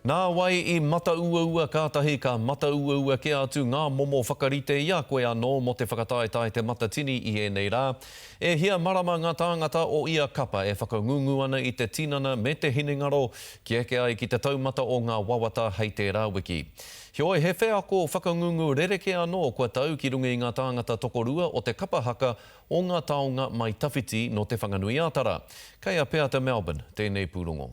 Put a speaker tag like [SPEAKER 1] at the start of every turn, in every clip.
[SPEAKER 1] Nā wai i matauaua kātahi ka matauaua kē atu ngā momo whakarite i a koe anō mō te whakataetae Te Matatini i ēnei rā? E hia marama ngā tāngata o ia kapa e whakangungu ana i te tinana me te hinengaro kia eke ai ki te taumata o ngā wawata hei tērā wiki? Heoi, he wheako whakangungu rerekē anō kua tau ki runga i ngā tāngata tokorua o te kapa haka o ngā taonga mai tawhiti nō Te Whanganui-ā-Tara. Kei a Peata Melbourne tēnei pūrongo.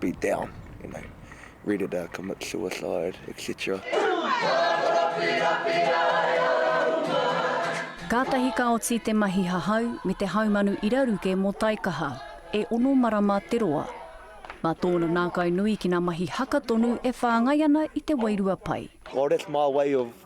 [SPEAKER 2] be down, you know, ready to commit suicide, etc.
[SPEAKER 3] Kātahi ka oti te mahi hahau me te haumanu iraruke mō Taikaha, e ono marama te roa. Mā tōna nākainui ki ngā mahi haka tonu e whāngai ana i te wairua pai. Well, that's my way
[SPEAKER 2] of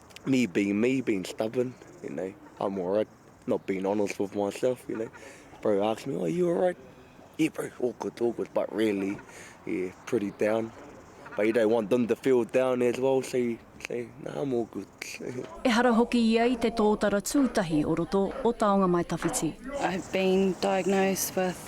[SPEAKER 2] me being me, being stubborn, you know, I'm alright, not being honest with myself, you know. Bro asks me, oh, you alright? Yeah, bro, all good, all good, but really, yeah, pretty down. But you don't want them to feel down as well, so you say, nah, I'm all good. Ehara hoki
[SPEAKER 3] ia i te tōtara tūtahi o roto o Taonga Mai Tawhiti. I've been
[SPEAKER 4] diagnosed with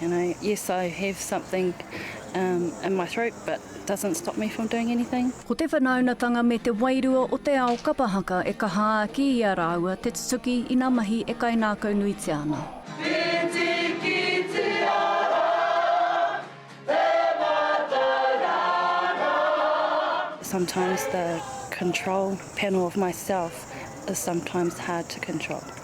[SPEAKER 4] You know, yes I have something umm in my throat but doesn't stop me from doing anything. Ko te whanaunatanga
[SPEAKER 3] me te wairua o te ao kapa haka e kaha āki i a rāua te tutuki ina mahi e kainākaunuitia ana.
[SPEAKER 4] Sometimes the control panel of myself is sometimes hard to control.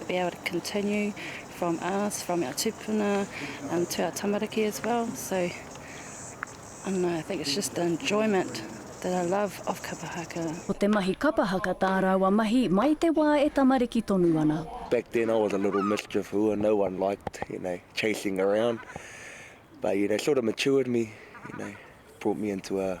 [SPEAKER 4] To be able to continue from us, from our tupuna um, to our tamariki as well. So, I don't know, I think it's just the enjoyment that I love of kapa haka. Ko te mahi kapa
[SPEAKER 3] haka tā rāua mahi mai te wā e tamariki tonu ana. Back then I was a
[SPEAKER 2] little mischief hua, no one liked, you know, chasing around. But, you know, sort of matured me, you know, brought me into a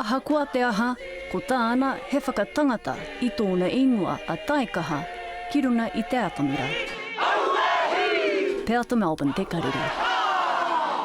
[SPEAKER 3] Ahakoa te aha, ko tāna he whakatangata i tōna īngoa a Taikaha ki runga i te atamira. Peata Melbourne te karere.